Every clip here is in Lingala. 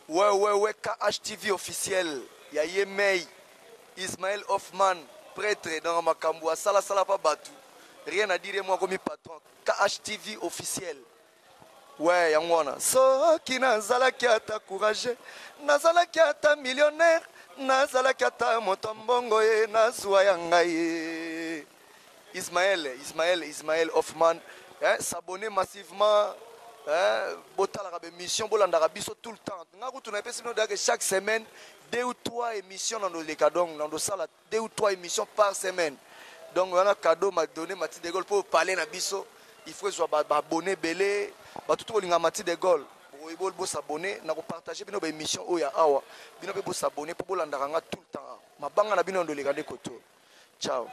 WWKHTV officiel ya ye mei Ismael Hoffman pretre nanga makambu asala sala pa batu rien à dire ye moko akomi patron KHTV officiel Ouais yango wana soki nazalaki ata courage nazalaki ata millionnaire nazalaki ata moto mbongo ye nazua ya ngai Ismaël Ismaël Ismaël Hoffman eh, s'abonner massivement eh, botalaka ba émission bolandaka biso tout le temps nga kutu napesi bino dake chaque semaine deux ou trois émissions na ndoleka donc na ndosala deux ou trois émissions par semaine donc wana cadeau ma donné mati de gaulle mpo parler na biso il faut ezwa baabonne ebele bato to kolinga mati de gaulle boyeboli bosabone na kopartage bino baémission oyo ya awa bino mpe bosabone mpo bolandaka nga tout le temps mabanga na bino ya ndoleka nde koto ciao.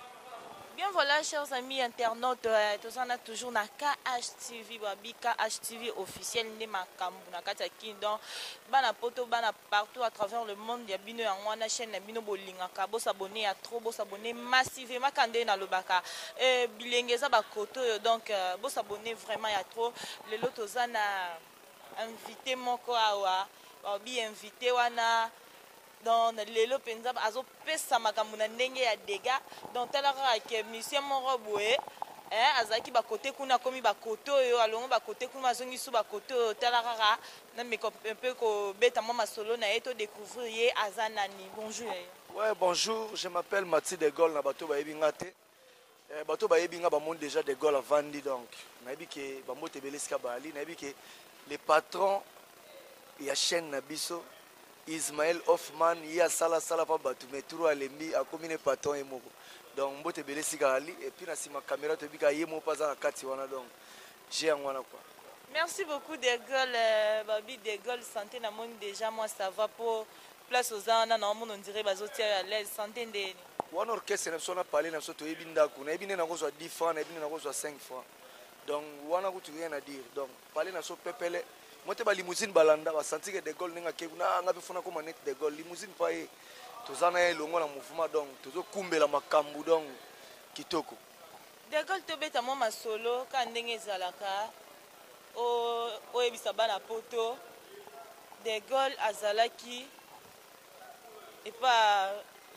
Bien voilà chers amis internautes euh, toza na toujours na KHTV babi KHTV officiel nde makambo na kati ya kin donc bana poto bana partout à travers le monde ya bino yango wana chaîne na bino bolingaka bosabone ya trop bosabone massivement ka nde nalobaka euh, bilenge eza bakoto oyo donc euh, bosabone vraiment ya trop lelo toza na invité moko awa babi invité wana donc lelo mpenza azopesa makambo na ndenge ya dega donc tala kaka ke musicien moko boye eh, azalaki bakote kuna akomi bakote oyo alongo bakote kuna azongi su bakote oyo tala kaka nameka mpe kobeta mwa masolo na ye to découvrir ye aza nani bonjour ouais bonjour je m'appelle mati de gol na bato bayebi nga te Eh, bato bayebi nga bamoni déjà de gaulle avandi donc nayebi ke bambote ebele esika baali nayebi ke le patron ya chaîne na biso ismael hoffman ye asala asala mpa bato mais turo alembi akomi ne patron ye moko donc mbote ebele esika ali epuis na nsima caméra toyebi ka ye moko mpe aza na kati wana donc je yango wana quoi Merci beaucoup de Gaulle euh, babi de Gaulle santé na moni déjà moi ça va po place oza wana na omona ondire bazotia yo à l'aise santé ndeni wana orchestre na biso na pale na biso toyebi ndako nayebi nde nakozwa 10 francs nayebi nde nakozwa 5 francs donc wana kutu rien à dire donc pale na biso pepele moi te ba limousine balanda basanti ke de gaulle ndenge akei kuna ah, nga mpe fona koma neti de gaulle limousine pa ye toza na ye elongo na mouvement donc tozokumbela makambo donc kitoko Decole tobeta mwa masolo kaka ndenge ezalaka oyebisa bana poto de Gaulle azalaki epa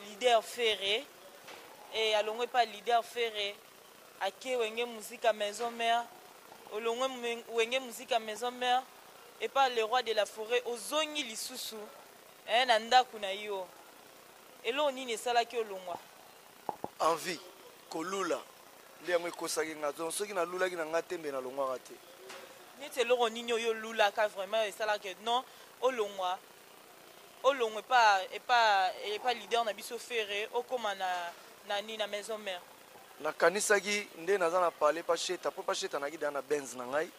leader Ferre e alongwe epa leader Ferre ake wenge muzika maison mère olongwe wenge muzika maison mère epa le roi de la forêt ozongi lisusu eh, na ndako na yo eloko nini esalaki olongwa Envie, ko lula, nde yango ekosaki nga donc soki na lulaki na nga te mbe na longwaka te. Neti eloko nini oyo yo lulaka vraiment esalaka que non olongwa olongwa epa epa epa leader na biso Ferre okoma na na nini na maison mère? Na kanisaki nde naza na palais pa Sheta po pa Sheta nayaki dejà na Benz na ngai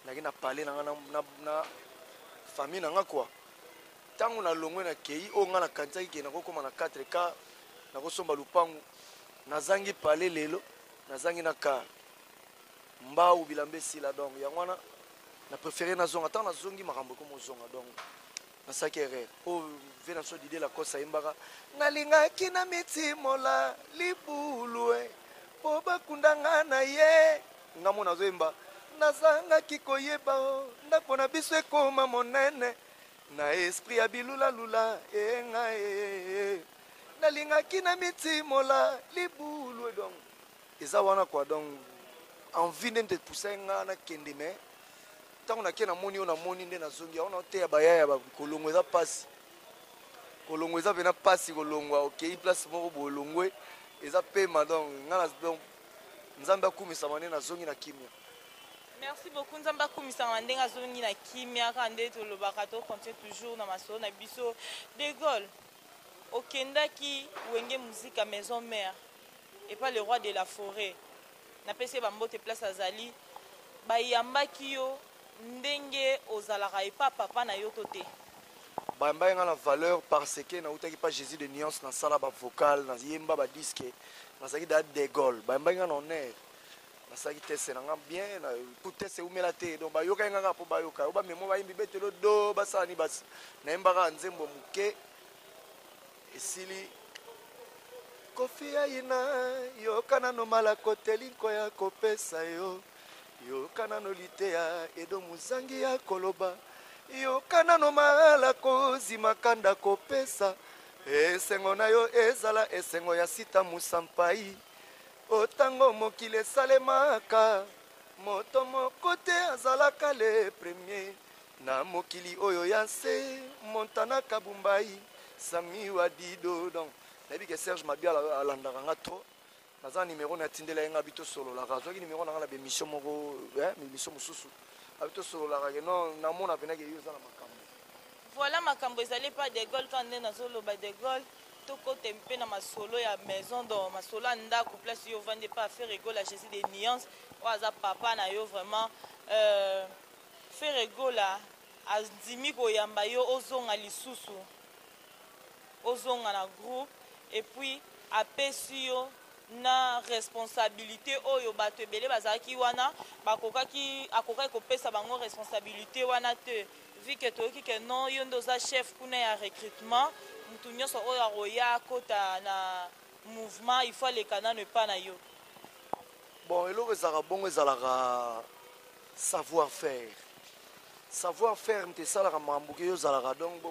nayaki na palais na nga na na famille na nga quoi Tango na longwe na keyi oyo nga na kanisaki ke nako koma na 4 car nako somba lupangu na zangi palais lelo na zangi na car mbawu bilamba esila donc yango wana na prefere na zonga tango na zongi makambo ekomo zonga donc nasalaki erreur oyo oh, venanso dide lakosa ayembaka nalingaki na mitimola libulue eh, mpo bakunda nga na ye nga mona azoyemba nazangaki koyeba o oh, ndako na biso ekoma monene na esprit ya bilula lula enga ee nalingaki na mitimola libulu edong eza wana kua donc envie nde nde epusai nga nakende me ntango nake namoni oyo namoni nde nazongi yango naoteya baya ya kolongwa eza mpasi kolongwa eza mpena mpasi kolongwa okei place moko bolongwe eza pema donc nga donc Nzambe akumisama nde nazongi na kimia. Merci beaucoup Nzambe akumisama ndenge azongi na kimia kaka nde tolobaka to continue toujours na masolo na biso. De Gaulle okendaki Wenge Muzika maison mère et pas le roi de la forêt. Napesi ba mbote place azali bayambaki yo ndenge ozalaka epa papa na yo to te. Bayambaki nga na valeur parce que nautaki pa Jesus de nuance na sala ba vocal na yemba ba disque nazalaki da degol bayambaki nga na honneur nasalaki teste na nga bien po teste eumela te donc bayokaki nga kaka po bayoka yo bamemo bayimbi betelo do basala ni basi nayembaka nzembo moke esili kofi ayina yoka nano malako telinko ya kopesa yo yoka nano liteya edo mozangi ya koloba yoka nano malako zimaka ndako pesa esengo na yo ezala esengo ya sita mosampai o ntango mokili esalemaka moto moko te azalaka le premier Na mokili oyo ya nse Montana Kabumbayi Samy wa Dido donc nayebi ke Serge Mabiala alandaka nga trop naza numero na atindela ye nga bi tosololaka azwaki numero na nga na bemission moko eh, bemission mosusu abi tosololaka ke non namona mpena ke yo oza na makambo voilà makambo ezali epai de gaulle kaka nde nazoloba de gaulle tokota mpe na masolo ya maison donc masolo ya ndako place yo ovandi epai affaire egola jésus de nuance oyo aza papa na yo vraiment euh, Ferre Gola andimi koyamba yo ozonga lisusu ozonga na groupe et puis apesi yo na responsabilite oyo bato ebele bazalaki wana bakokaki akokaki kopesa bango responsabilite wana te vu que toyoki que non yo nde oza chef kuna ya recrutement moto nyonso oyo akoya akota na mouvement il faut aleka nano epa na yo bon eloko ezalaka bongo ezalaka savoir faire savoir faire nte esalaka makambo ke yo ozalaka donc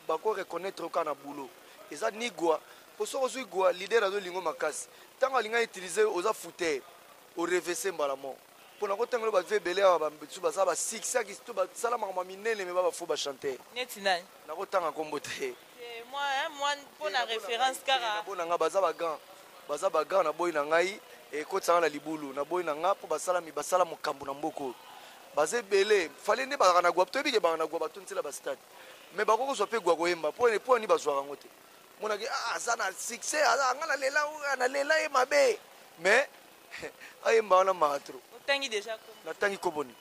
bako reconnaître yo kaka na boulot eza ni gwa mpo soki ozwi gwa leader azolingo makasi ntango alinga utilise yo oza fute orevese mbala moko mpo na kotangelo bave ebele awa bambisu baza basiksaki to basala makambo ya minene me ba bafo bachanteur neti nani nakotanga nkombo te Eh, moi, hein, moi, pour la référence, car. Na bona nga baza ba grand, baza ba grand na boy na ngai et ko tsanga na libulu na boy na nga pour basala mi basala mokambu na mboko. Baze belé, fallait ne ba na gwa, to bi ke ba na gwa ba tuntela ba stade. Mais ba koko zo pe gwa ko yemba, pour ne pour ni ba zo rango te. Mona ke ah aza na succès, aza nga na lela ou na lela e mabe. Mais ayemba wana matro. Otangi déjà ko. Na tangi ko boni.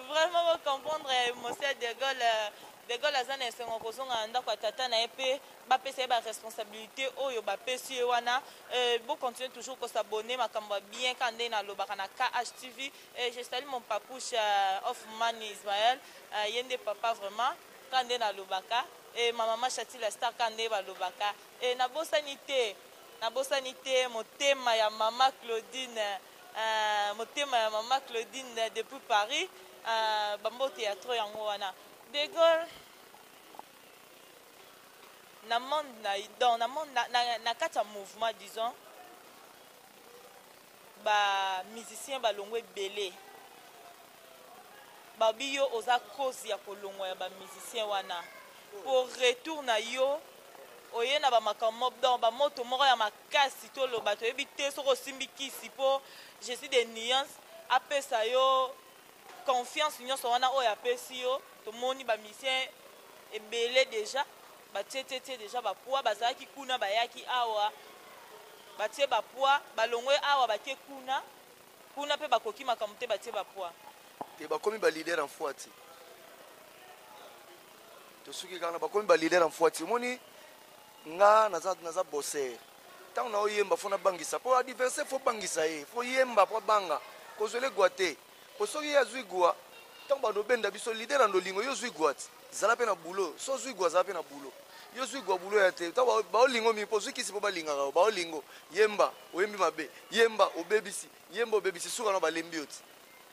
vraiment bo comprendre ya emotion ya de Gaulle euh, de Gaulle aza na esengo kozonga na ndako ya tata na ye mpe bapesa ye baresponsabilité oyo bapesi ye wana euh, bo continue toujours kosabone makambo ya bien kaka ndenge nalobaka na KHTV euh, je salue mon papouche euh, of man Ismaël euh, ye nde papa vraiment kaka ndenge nalobaka e ma mama Chatila Star kaka ndenge balobaka e nabosani te nabosani te motema ya mama Claudine Ahh motema ya maman Claudine depuis Paris ahh ba mbote ya trop yango wana de Gaulle na monde na donc na monde na, na, na kati ya mouvement disons ba musicien balongo ebele babi yo oza cause ya kolongwa ya ba musicien wana pour retour na yo oye na bamakambo donc bamoto moko ya kasi toloba toyebi te soki osimbi kisi mpo je suis de nuance apesa yo confiance nyonso wana oyo apesi yo tomoni bamisien ebele deja batietetie deja bapoi bazalaki kuna bayaki awa batie bapoi balongwe awa bake kuna kuna mpe bakoki makambo te batie bapoi te bakomi balider en foiti tosuki kaka na bakomi balider en foiti omoni Nga naza naza bosser. Tango na oyemba faut nabangisa. Po adversaire faut bangisa ye. Faut yemba po abanga. Kozwele gwa te. Po soki ye azwi gwa, tango bando benda biso leader na ndolingo yo zwi gwa ti. Zala pe na boulot. So zwi gwa zala pe na boulot. Yo zwi gwa boulot ya te. Tango ba olingo mingi po ozwi kisi po balingaka yo. Ba olingo. Yemba oyembi mabe. Yemba obebisi. Yemba obebisi suka na balembi yo ti.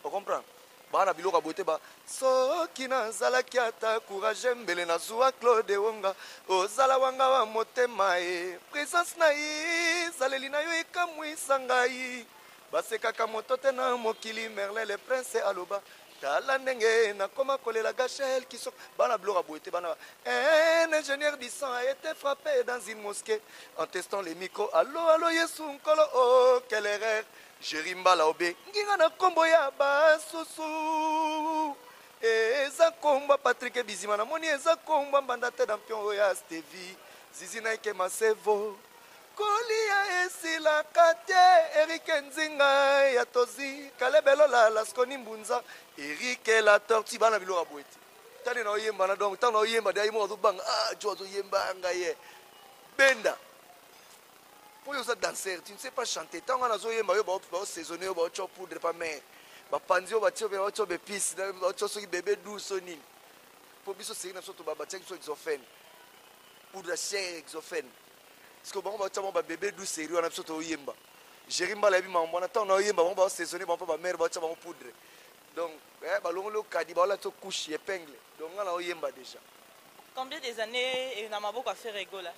O comprendre? Baa na biloko ya boye te ba soki nazalaki ata courage mbele nazua Claude Wonga ozala wanga wa motema e presence na ye ezaleli na yo ekamwisa ngai basekaka moto te na mokili merle le prince aloba Tala ndenge nakoma kolela Gachel Kisoko bana biloko boye te bana un ingénieur du sang a été frappé dans une mosquée en testant les micros allo allo Yesu nkolo oh quelle erreur Jerry Mbala obe nginga na kombo ya basusu eza kombo Patrick Bizima namoni eza kombo mbanda te dampion oyo ya Stevie Zizi Nike Masevo Kolia esilaka te Eric Nzinga ya Tozi, Caleb Elola, Lasconi Mbunza, Eric la Tortue bana biloko ya boye te. Tani na oyemba na donc tana oyemba de ayemba azo banga ah jo azo yemba nga ye. Benda. Po yo za danser, tu ne sais pas chanter. Tanga na zo yemba yo ba ba saisonner yo ba cho poudre pa mère. Ba panzi yo ba cho ba cho be pisse, ba cho soki bébé douce nini. Po biso seri na biso to ba ba cho exophène. Poudre chère exophène. sikoyo bango batia bango babebe du serie wana biso toyemba géri mbala yebi mambo wana ntango naoyemba bango basaisonne bango mpe bamare batia bango poudre donc eh, balongoli okadi baola to couche epingle donc nga naoyemba déjà combien des années eh, na maboko affaire egola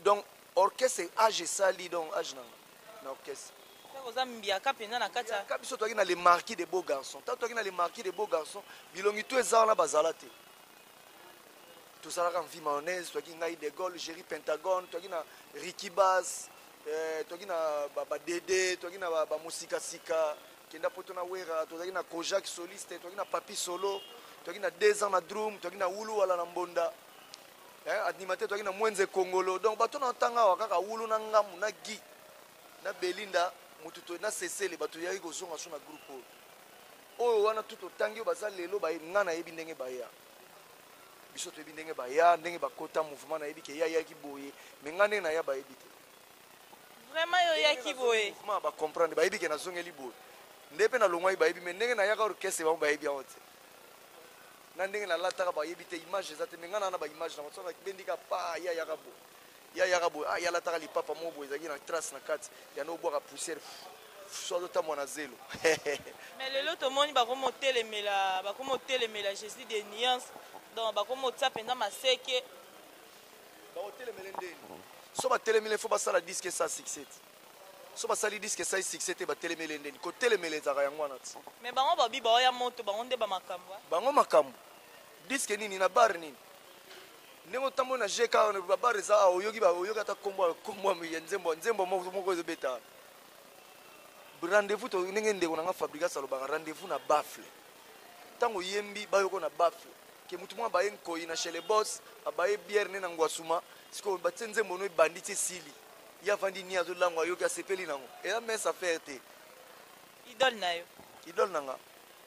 donc orchestre age esali donc age nanga na orchestre oza mbiaka mpenza na kati ya biso toyaki na le marquis de beau garçon ntango toyaki na le marquis de beau garçon bilongi to eza wana bazala te tozalaka mvi mayonnaise toyaki ngai de gaulle géri pentagone toyaki na rikibas eh, toyaki na badede toyaki na bamosikasika kenda poto na wera tozalaki na kojak soliste toyaki na papi solo toyaki na deux ans na drum toyaki na wulu wala na mbonda eh, animateur toyaki na mwenze kongolo donc bato na ntanga awa kaka wulu na ngamu na gi na belinda motu na sesele bato yaki kozonga so na groupe oyo Oyo wana tout otangi oyo baza lelo baye nga nayebi ndenge baya biso toyebi ndenge baya ndenge bakota mouvement nayebi ke yayaki boye me nga ndenge naya bayebi te vraiment yo oyaki boye mouvement bacomprendre bayebi ke nazongeli boye nde mpe nalongwaki bayebi me ndenge nayaka orchestre bango bayebi yango te na ndenge nalataka bayebi te image eza te me nga naa na baimage na bato bendika pa yayaka boye Ya yaka boye ah yalataka lipapa moko boye ezalaki na trace na kati yanda obwaka poussière so azotambwa na zelo mais lelo tomoni bakomotelemela bakomotelemela jésus de nuance donc bakomotia mpenza maseke bakotelemele ndeni so batelemele fo basala diske sa succès so basali diske esali succès te batelemele ndeni kotelemela ezalaka yango wana ti mais bango babi baoya moto bango nde bamakambo bango makambo Disque nini na bar nini? Ndenge otamboli na GK ba bar eza awa oyoki ba oyoki ata kombo kombo ya nzembo nzembo moko moko ezo beta. Rendez-vous to ndenge ndeko na nga Fabrigas alobaka rendez-vous na baffle. Tango yembi bayoko na baffle. Ke mutu mwa baye nkoyi na chez les boss abaye bière ne na ngwasuma siko batie nzembo no ebandi tie sili. Ya vandi ni azo lango ayoki asepeli nango. Eza mince affaire te. Idole na yo. Idole na nga.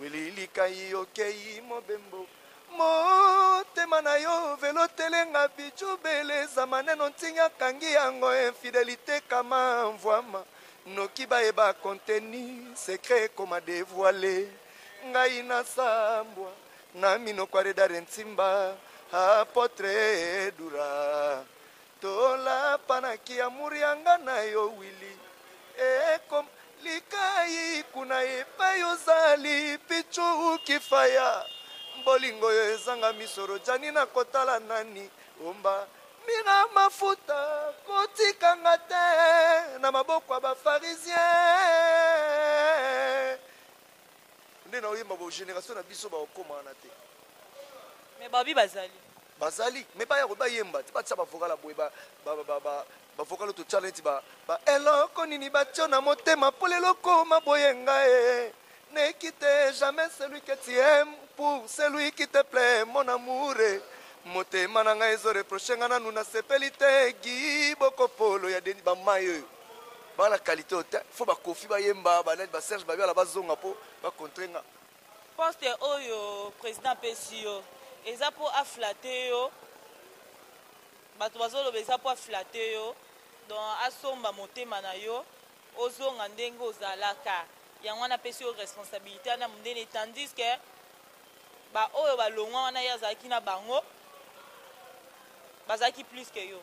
Willy Likayi okeyi mobembo motema na yo velo telenga bijo beleza maneno ntinya kangi yango infidelite kama mvuama noki bayeba contenu secret ekoma devoile ngai nasambwa na minoko ya redare nsimba apotre dura Tolapa na ki amour ya nga na yo Willy Ekoma likayi kuna epai ozali Pitshou Kifaya Bolingo oyo ezanga miso Rodjani na kotala nani Omba Mira Mafuta Kotika nga te na maboko ya ba pharisiens Nde naoyemba bo generation na biso baokoma wana te. Mais babi bazali. Bazali mais baya ko bayemba te batia ba vocal ya boye ba ba ba ba ba vocal oyo totia neti ba ba eloko nini batio na motema po lelo okoma boye nga e ne quitte jamais celui que tu aimes pour celui qui te plaît mon amour e motema na ngai ezo reproche nga nanu nasepeli te gi bokopolo ya deni bamai oyo bana kalite oyo te fo bakofi bayemba banani baserge babiala bazonga mpo bakontre nga Poste oyo president apesi yo eza mpo aflate yo, bato bazoloba eza mpo aflate yo, donc asomba motema na yo ozonga ndenge ozalaka, yango wana apesi yo responsabilite wana monene, tandis que baoyo balongwa wana ye azalaki na bango bazalaki plus que yo.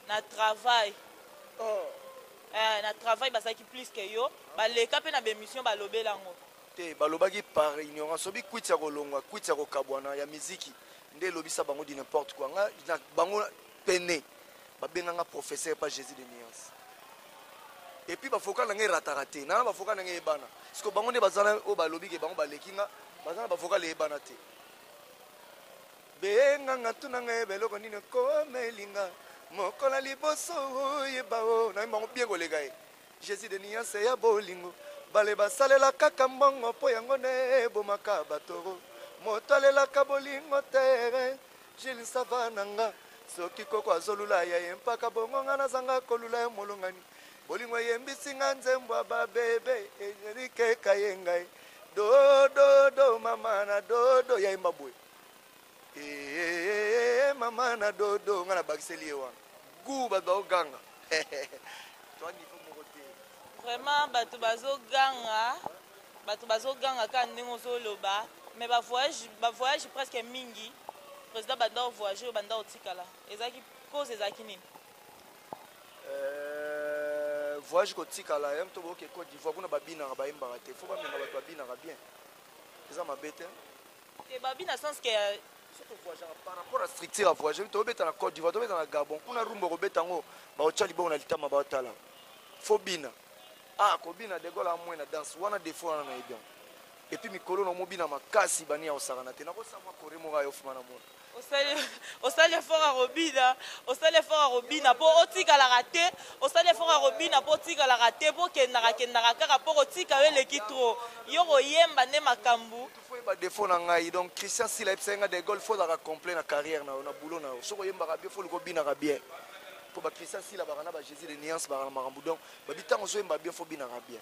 na travail oh. eh, na travail bazalaki plus que yo baleka mpe na bemission balobela yango te balobaki par ignorance sobi kwiti ya kolongwa kwiti ya kokabwana ya miziki nde elobisa bango di n'importe quoi nga na bango pene babenga nga professeur pa jésus de nuance epuis bafoka na nga erataka te nana bafoka na nga eyebana siko bango nde baza oyo balobi ke bango baleki nga baza na bafoka leyebana te Benga nga tuna nga yeba eloko nini okomeli nga mokola liboso oyeba o nayebi bango bie koleka ye jésus de niance ya bolingo bale basalela kaka mbongo mpo yango nde ebomaka batoro moto alelaka bolingo tere jile sava na nga soki koko azolula ya ye mpaka bongo nga nazanga kolula ya molongani bolingo eyembisi nga nzembo ya babebe ejerikeka ye ngai dododo mama na dodo ya yemba boye eeeeee mama na dodo nga na bakiseli ye wana gu bato baoganga toa niveau moko te vraiment bato bazoganga bato bazoganga kaka ndenge ozoloba mais bavoyage bavoyage presque mingi président banda ovoyage oyo banda otikala ezalaki cause ezalaki nini euh, voyage kotikala ya moto boke cote d'ivoire kuna babinaka bayembaka te fo bamema bato babinaka bien eza mabe te te babi na sens que par rapport à structure ya voyage to beta na Côte d'Ivoire to beta na Gabon kuna rumba ko beta ngo ba ocha libongo na litama ba tala fo bina ah ko bina de gola amwe na danse wana défaut wana na ebian et puis mikolo na mobina makasi bani ya osaka na te na ko savoir ko remoka yo fuma na mona osali osali effort ya kobina osali effort ya kobina mpo otikalaka te osali effort ya kobina mpo otikalaka te mpo okendaka kendaka kaka mpo kotika yo eleki tro yo koyemba nde makambo oyeba defo na ngai donc christian sila ayebisaki ngai de gaulle fo ozalaka complet na carrière na yo na boulot na yo soki oyembaka bien fo likobinaka bien mpo ba christian sila baka na ba jésus de nuance baka na makambo donc babi ntango ozoyemba bien fo obinaka bien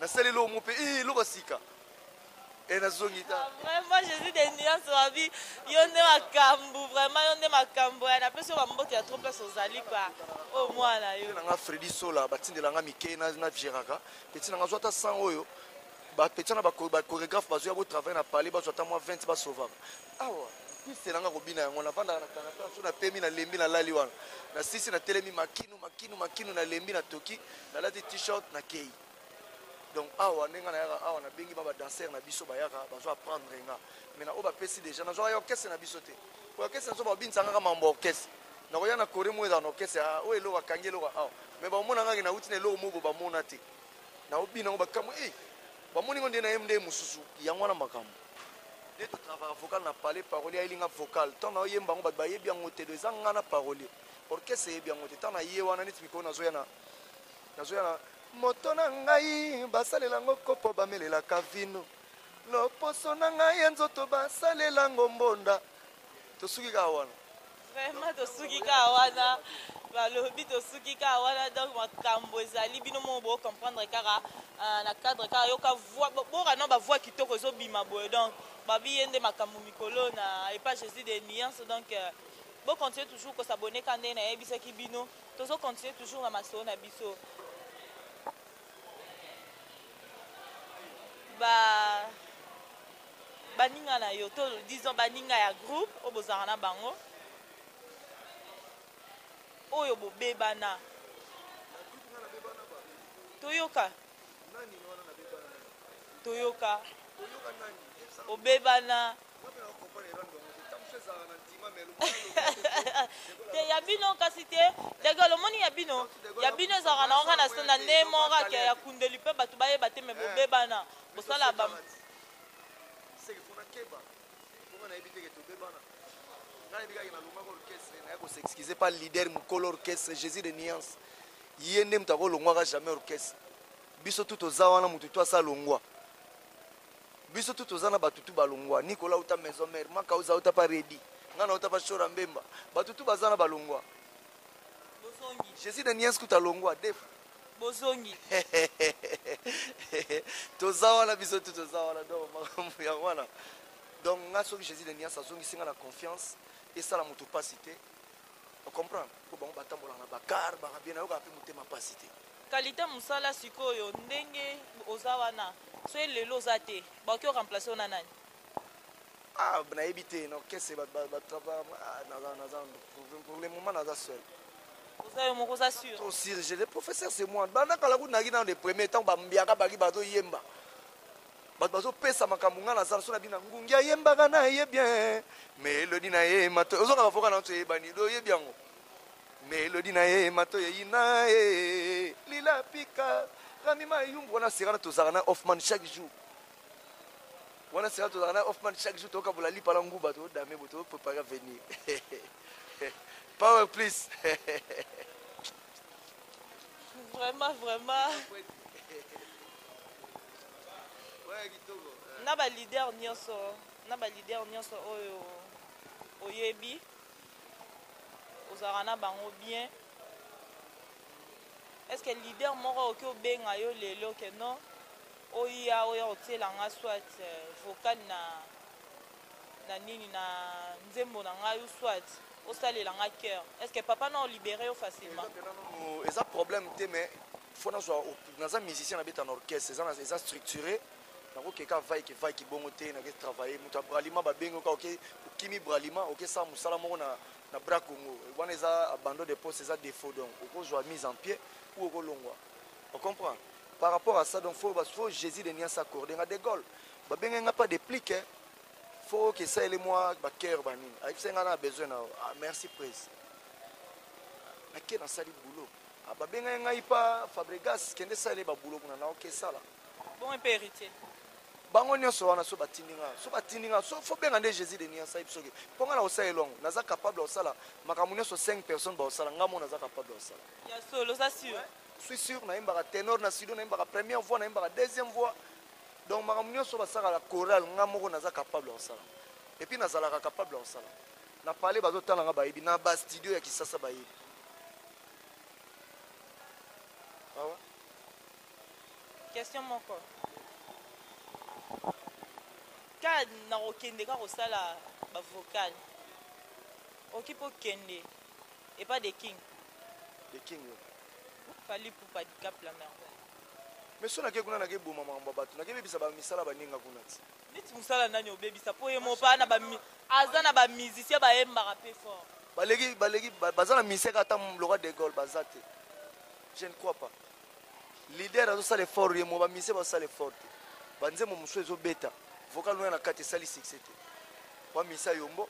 nasali eloko mo mpe ii eloko ya sika e nazongi ta vraiment jésus de nuance wabi yo nde makambo vraiment yo nde makambo ya napesi yo bambote ya trop place ozali kua o oh, mwana yo nanga fredi sola batindela nga mike na geraka peti nanga zwa ata sang oyo bapetia na bachoregraphe bazoya botravaille na palais bazwa ata mwa 20 basovaka awa piste nanga kobina yango navandaka na kanaka so napemi nalembi nalali wana nasisi natelemi makinu makinu makinu nalembi natoki nalati t-shirt nakei donc awa nde ngai nayaka awa nabengi ba badanser na biso bayaka bazo apprendre nga mai na oyo bapesi déjà nazwaka ya orchestre na biso te oyo orchestre nazo babinisa ngaka mambo ya orchestre nakoya na kore moko ezala na orchestre ah, oyo eloko akangi eloko awa mai bamona ngaki nauti na eloko moko bamona te naobina yango bakambo e eh, bamoni ngo nde na ye nde mosusu yango wana makambo nde totravaka vocal na palais parolier ayelinga vocal ntango naoyemba yango bato bayebi yango te do eza ngai na parolier orchestre eyebi yango te ntango na ye wana neti mikolo nazoya na Nazo ya na moto na ngai basalela ngo kopo bamelelaka vino loposo na ngai ya nzoto basalela ngo mbonda tosuki kaka wana vraiment tosuki kaka wana balobi tosuki kaka wana donc makambo ezali bino moko bocomprendre kaka euh, na cadre kaka yoka boka na bavoi kitoko ezobima boye donc babi ye nde makambo mikolo na epa jésus de nuance donc euh, bocontinue toujours kosabone ka ndenge nayebisaki bino Tozo continuer toujours na masolo na biso. Ba baninga na yo to disons baninga ya groupe oyo bozalaka na bango oyo bobebana toyoka toyoka obebana te ya bino kasi te degel omoni ya bino ya bino ezalaka na oka na ne moko ake ya kundeli mpe bato bayeba te me bobebana bosala ba nayebi kaka nalongaka orchestre naye kosexcuse pa leader mokolo orchestre jésus de nuance Ye nde mutu ako longwaka jamais orchestre. Biso tout toza wana mutu tout asi alongwa. Biso tout toza na batu tout ba longwa. Nicolas awuta maison mère, Makauza awuta pa Reddy, nga na wuta pa Shora Mbemba. Batu tout baza na ba longwa. Je suis de Niens kutu alongwa deux fois. bozongi toza wana biso tout toza wana donc makambo yango wana donc nga soki jésus de nias azongisi nga na confiance esala moto mpasi te o comprendre po bango batambola na ba car baka bien nayoka pe motema pasi te kalite mosala sikoyo ndenge oza wana soki lelo oza te bakoki oremplace ona nani ah, nayebi te na orchestre pour le moment naza seul oza yo moko oza sur tosirge le professeur c'est moi banda kala kunaki nano de premier ntango bambiaka baki bazoyemba bato bazopesa makambo ngai naza so na bina ngungi ayembaka na ye bien melodi na ye mato ozonga bavoka na nso eyebani do oyebi yango melodi na ye mato eyina ye lila pika rami mayumbu wana serana tozalaka na hoffman chaque jour wana serana tozalaka na hoffman chaque jour tokabola lipa na nguba todame bo toprepare avenir power please vraiment vraiment na ba leader nyonso na ba leader nyonso oyo oyebi ozalaka na bango bien est ce que leader moko oki obenga yo lelo ke non oya oya kotiela nga soit euh, vocal na na nini na nzembo na ngai ou soit osalela nga cœur est ce que papa na olibere yo facilement eza problème te mais faut nazwa naza musicien nabeta na orchestre eza, eza structuré nakoke ka vaike vaike bongo te nake travaille moto ya bralima babengi oka oke okimi bralima okesala mosala moko na, na bra congo wana eza abandon de poste eza défaut donc okozwa mise en pied ou okolongwa ocomprendre par rapport à ça donc faut, faut jésus de nias accorde nga de gaulle babenge nga pas déplique eh. faut que ça ele moi ba cœur ba nini ayebisa nga na besoin na ah, merci prise nake nasali boulot Ah ba bengai ngai pa Fabregas kende sale ba boulot kuna na ok sala. Bon pe héritier. Bango nyonso wana so batindi nga so batindi nga so faut benga nde Jésus de Nia saib soki po nga na osala elongo naza capable ya osala makambo nyonso 5 personnes ba osala nga mo naza capable ya osala. Ya solo za sûr. Ouais. suis sûr nayembaka tenor na sido nayembaka première voix nayembaka deuxième voix donc makambo nyonso basalaka chorale ngai moko naza capable ya kosala epuis nazalaka capable ya kosala na pale bazotala ngai bayebi na bastudio ya kisasa bayebi awa question moko ka nakokende ka kosala bavocal oki mpo kende epa de king de king yo fali pupa dicap la merveille mais so nake kuna nakeboma makambo ya bato nakebebisa bamisala baninga kuna ti neti musala nani obebisa po ye mopa na ba aza na ba musicien bayembaka pe fort baleki baleki baza na musicien ata loka de gaulle baza te je ne crois pas leader azosala effort ye mo ba musicien basala effort te banzembo mosusu ezobeta vocal wana na kati esali succès te pa misa yombo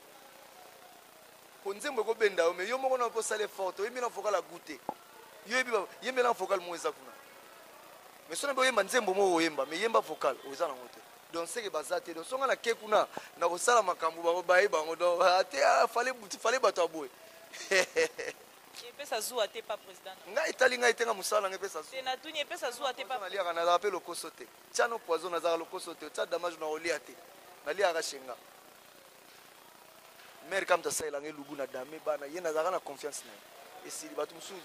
Po nzembo eko benda yo mais yo moko nao pe osala effort te oyembi na vocal ya gout te. Yo oyebi ba yembela na vocal moko eza kuna. Mais soki na bo yemba nzembo moko oyemba mais yemba vocal oza na ngo te. Donc seke baza te donc soki nga na ke kuna na kosala makambo bango baye bango donc ate fale buti fale bato ya boye. epesa zuwa te pa president ngai etali ngai te nga mosala nanga epesa zuwa na tuni epesa zuwa te pa naliaka nazala pe lokoso te tiano poison nazalaka lokoso te otia damage na olia te naliaka shenga mare kamta asalelanga elubu na dame bana ye nazalaka na confiance na ye esili bato mosusu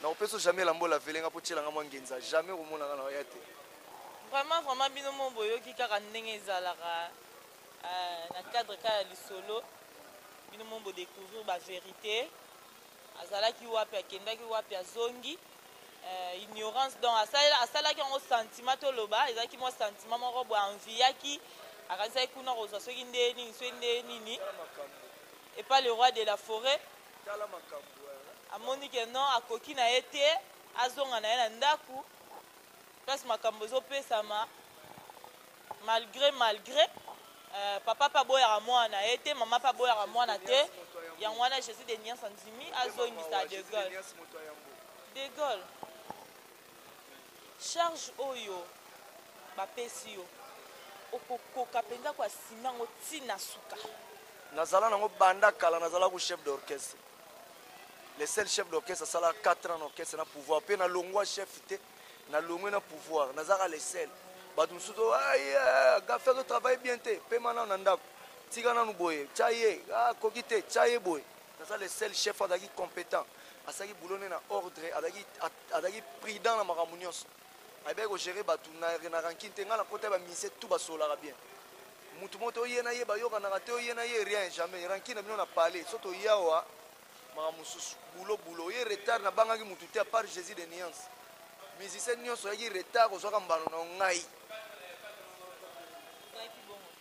nakopesa jamais lambola velenga mpo tyelanga mwa ngenza jamais okomonanga na oya te vraiment vraiment bino mo boyoki kaka ndenge ezalaka euh, na cadre kaka ya lisolo bino mo bodecouvrir baverité azalaki wapi akendaki wapi azongi euh, ignorance donc asalaki yango sentiment toloba ezalaki mwa sentiment moko boye anviyaki akanisaki kuna kozwa soki nde nini soki nde nini epa le roi de la forêt amoni ke non akoki na ye te azonga na ye na ndako place makambo ezopesama Malgre malgre euh, papa pe aboyaka mwana na ye te mama pe aboyaka mwana te yango wana jesus de nias andimi azongisa de gaulle de gaulle charge oyo bapesi yo okokoka mpenza koasima yango ti na suka nazala nango banda kala nazala ko chef d'orchestre le seul chef d'orchestre asala 4 ans na orchestre na pouvoir mpe nalongwa chef te na longwe na pouvoir nazaka le sel bato mosusu gafe azo travaille bien te pema nano na ndako tika nano boye tya ye akoki ah, te tya ye boye naza le sel chef azalaki compétent asalaki boulot ne na ordre azalaki prudent na makambo nyonso ayebaki kogere bato na rankine te ngai nakota bamise tout basololaka bien motu moko te oye na ye bayokanaka te oye na ye rien jamais rankine na bino na palais so toyawa Makambo mosusu boulot boulot oye retard na bangaki mutu te apart Jesus de nuance musicien nionso oyaki retard ozwaka mbano na yo ngai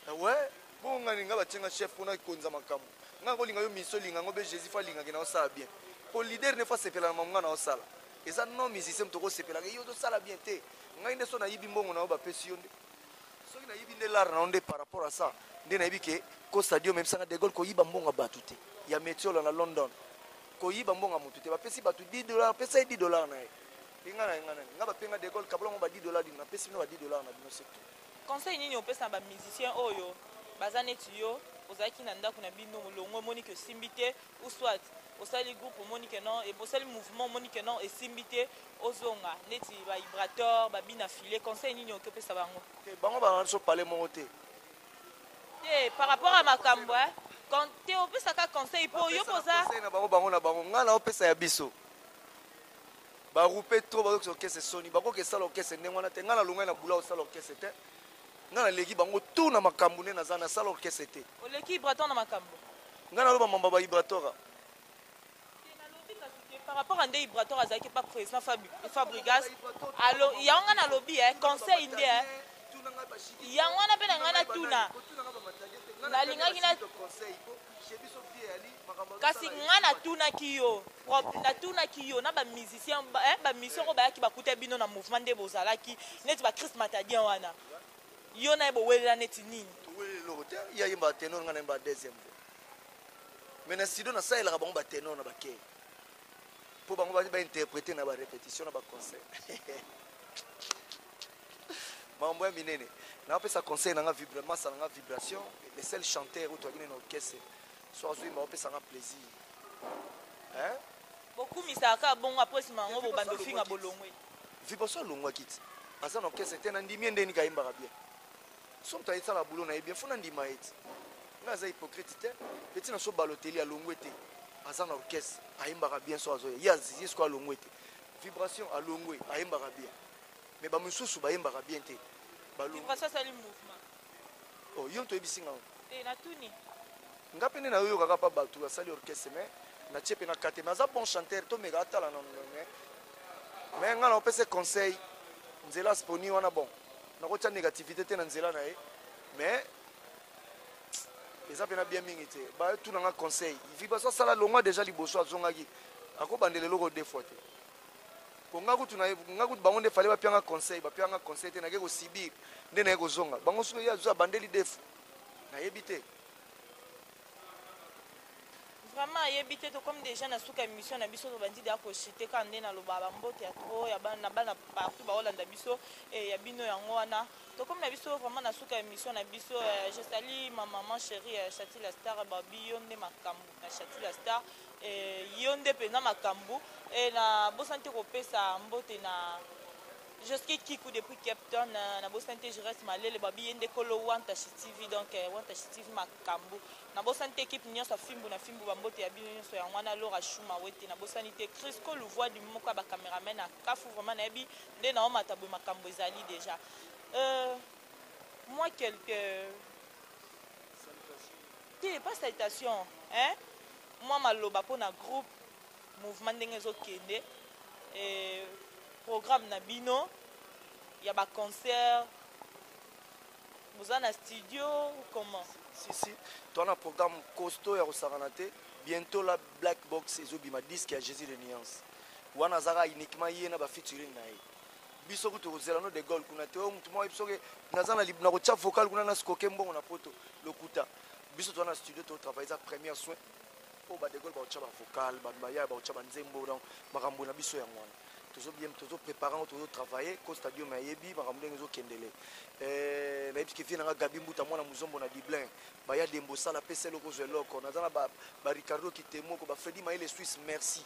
eh ouais bongo ngai nini ngai batie ngai chef mpona konza makambo ngai nakolinga yo miso olinga yango mpe jésus fo alingaki na osala bien mpo leader ne fo asepela na mamu ngai na osala eza non musicien moto okosepelaka ye ozosala bien te ngai nde so nayibi mbongo na yo bapesi yo nde soki nayebi nde lar na yo nde par rapport à ça nde nayebi ke ko stadium emebisanga de gaulle koyiba mbongo ya bato te ya metiola na london koyiba mbongo ya motu te bapesi bato 10 dollar pesa ye 10 dollar na ye penga na ye ngai nani ngai bapenga de gaulle kabola yango ba 10 dollar dino napesi bino ba 10 dollar na bino surtout conseil nini opesa na bamusicien oyo baza neti yo ozalaki na ndako na bino molongo omoni ke osimbi te ou soit osali groupe omoni que non et bosali mouvement omoni que non esimbi te ozonga neti ba vibrateur ba bina filet conseil nini oki opesa bango te bango bana biso pale moko te te par rapport à makambo eh, Kon- te opesaka conseil mpo yo mpo oza Conseil na bango bango na bango ngai naopesa ya biso barupe trop bazokisa okese soni bakoki esala okese ndenge wana te ngai nalongai na bula osala okese te ngai naleki bango tu na makambo nde naza nasala okese te oleki vibrateur na makambo nga naloba mamba ba ibratora par rapport à nde ibratoire azalaki pas président fabrigas alo yango nga nalobi eh, conseil nde eh. yango wana mpe na ngai natuna nalingaki na kasi ngai natunaki yo natunaki yo na bamusicien bamusicien eh, oyo bayaki bakuta bino na mouvement nde bozalaki neti bachrist matadien wana Yo naye bowelela neti nini? Toweleli eloko te, ye ayembaka tenor nga nayembaka deuxième voix. Mais na studio nasalelaka bango ba tenor na ba key. Po bango ba interpreter na ba repetition na ba concert. Makambo ya minene. Napesa conseil na nga vibra masa na nga vibration, le seul chanteur oyo toyaki na orchestre. So azui ma opesa nga plaisir. Hein? Bokumisaka bongo après sima yango bobanda ofinga bolongwe. vipaso alongwa kiti aza na orchestre te nandimi ye ndenge niki ayembaka bien so moto ayesala bulo na ye bien fo nandima ye ti nga aza hypocrite te mpe ntina so baloteli alongwe te aza na orchestre ayembaka bien so azoya ye azizi siko alongwe te vibration alongwe ayembaka bien me bamosusu bayembaka bien te balongwe oh, yo moto oyebisi ngai te natuni nga mpe nde nayoyokaka mpa bato basali orchestre mais natie mpe na kate mais aza bon chanteur tomeka atala na mais mais nga naopesa conseil nzela asponi wana bon nakotya négativité te na nzela na ye mais eza mpe na bien mingi te batuna nga conseil vibaso asala longwa déjà liboso azongaki akobandela eloko deux fois te po nga kutu na nga kutu bango nde fallait ba pianga conseil ba pianga conseil te na ke ko subir nde na ko zonga bango soki ya zo abandeli defu na yebi te vraiment ayebi te tokomi déjà na suka émission na biso tobandi deya kochite kaka nde naloba bambote ya trop ya bana bana partout baolanda biso e ya bino yango wana tokomi na biso vraiment na suka émission na biso je sali ma maman chérie chatila star babi yo nde makambo Shatula Star eh, yo nde mpenza makambo eh, nabosani te kopesa mbote na Joski Kiku depuis Cape Town na, na bosani te Jurès Malele babi ye nde kolo Wantashi TV donc eh, Wantashi TV makambo na bosani te ekipe nyonso afimbu na fimbu bambote ya bino nyonso yango wana Laura Shuma wete na bosani te Crisco Louvois du moko ya bacameraman na Kafu vraiment nayebi nde na omata boye makambo ezali déjà euh, moi quelques Te pas saltation hein mwa maloba pona groupe mouvement ndenge ezo kende eh, programme na bino ya ba concert boza na studio ou comment si si toi na programme costaud ya kosakana te bientôt la black box ezobima disque ya jésus de nuance wana azaka uniquement ye na ba featuring na ye biso kutu kozela no de gol kuna te oyo motu moko yebiso ke naza na kotya vocal kuna nasikoke mbongo na poto lokuta biso toza na studio totravaille eza première soin oyo ba de gol bakotya bavocal bato bayaya bakotya banzembo donc makambo na biso yango wana tozo bien tozo prépare yango tozo travaille ko stadium ayebi makambo ndenge ezokendele eh, nayebi ke vie nanga gabi mbuta mwana mozombo na dublin baya dembo sala pesa eloko ozwa eloko naza na baricardo kitemoko bafredi mayele suisse merci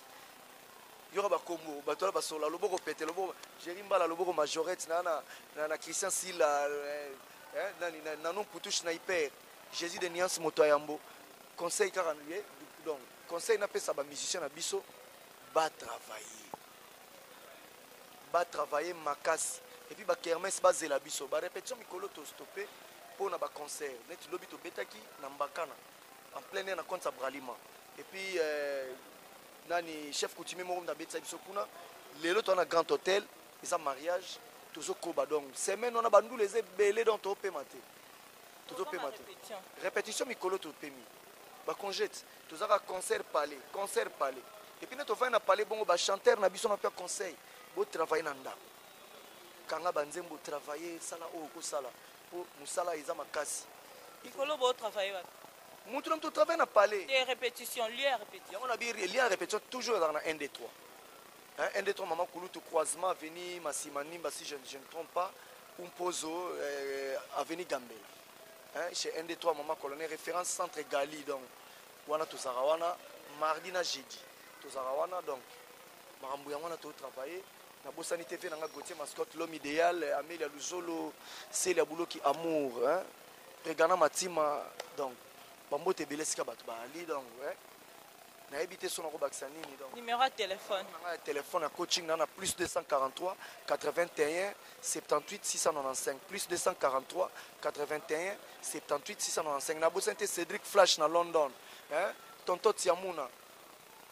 yoka bakombo bato wana basola loboko pete loboko jeri mbala loboko majorette na, na, na, na christian sila eh, eh, nani na, nanon kutu schnaiper jésus de niance moto ya yambo conseil kaka ye eh, donc conseil napesa bamusicien na biso batravaille batravaille makasi epuis bakermes bazela biso barépétition mikolo tostoppe mpo na baconcert neti lobi tobetaki na mbakana en plein air na compte ya bralima epuis euh, nani chef coutumier moko mutu abetisa biso kuna lelo toza na grand hôtel eza mariage tozokoba donc semaine wana bandula eza ebele donc topema te tozopema te répétition mikolo topemi bacongete tozaka concert palais concert palais epuis nde tofai na palais bongo bachanteur na biso napia conseil botravaille na ndako kanga banzembo travaille sala oyo okosala mpo mosala eza makasi mikolo botravaille wapi mutu na mutu travaille na palais de répétition lieu ya répétition yango na bi lieu ya répétition toujours ezalaka na 1 2 3 hein 1 2 3 maman kulutu croisement avenue masima nimba si je, je ne trompe pas ou mpozo euh, avenue gambela hein chez 1 2 3 maman colonel référence centre gali donc wana tozalaka wana mardi na jeudi tozalaka wana donc makambo yango wana totravaille nabosani te mpe nanga gautier mascotte l'homme idéal amelia luzolo seli ya buloki amour hein? Regana Matima, donc, bambote ebele esika bato baali, donc, eh. nayebi te so nakobakisa nini donc numéro ya telefone nanga ya telefone ya coaching na na plus 243 81 78 695 plus 243 81 78 695 nabosani te cédric flash na london eh? tonto tiamuna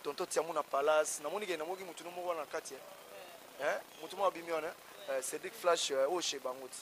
tonto tiamuna palace namoni ke namoki motu no moko wana na kati eh? eh? motu moko abimi wana eh? eh cédric flash oyo oh, chez bango ti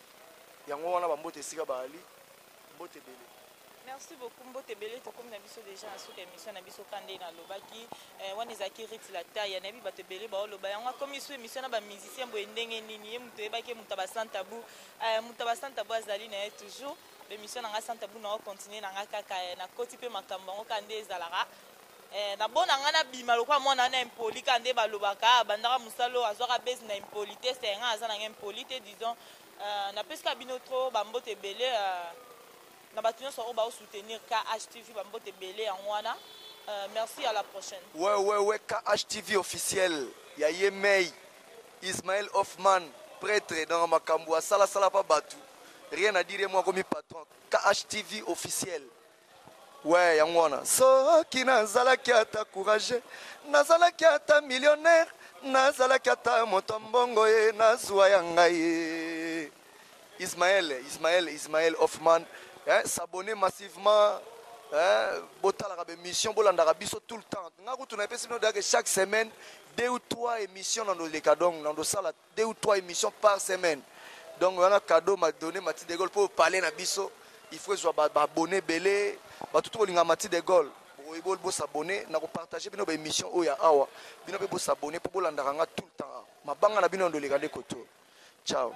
yango wana bambote esika baali mbote ebele merci beaucoup mbote ebele tokomi na biso deja na suka émission na biso kande nalobaki eh, wana ezalaki rit la taille nayebi bato ebele baoloba yango akomi su émission na bamusicien boye ndenge nini ye moto oyebaki moto abasantabu eh, moto abasantabu azali na ye toujours bémission na ngai santabu na ocontinue na ngai kaka eh, nakoti mpe makambo yango kaka nde ezalaka Eh, na bona nga na bima lokola mwana wana impoli kaka nde balobaka ah, abandaka mosala oyo azwaka base na impoli te se nga aza nanga impoli te disons euh, napesika bino tro bambote ebele euh, na bato nyonso oyo baosoutenir khtv bambote ebele yango wana euh, merci à la prochaine wewewe khtv officiel ya ye mei ismael hoffman pretre nanga makambo asalasala mpa bato rien à dire mwa akomi patron khtv officiel Ouais, yango wana soki nazalaki ata courage nazalaki ata millionnaire nazalaki ata moto ya mbongo ye nazwa ya ngai ye ismael ismael ismael hoffman eh, s'abonner massivement eh, botalaka baémission bolandaka biso tout le temps ngai kutu napesi bino dake chaque semaine deux ou trois émission na ndoleka donc na ndosala deux ou trois emissions par semaine donc wana cadeau ma donne mati de gaulle po palais na biso il faut ezwa ba abonne ebele bato to kolinga mati de gaulle boyeboli bo s'abonner na ko partager bino ba emission oyo ya awa bino pe bo s'abonner po bolandaka nga tout le temps mabanga na bino ndoleka nde koto ciao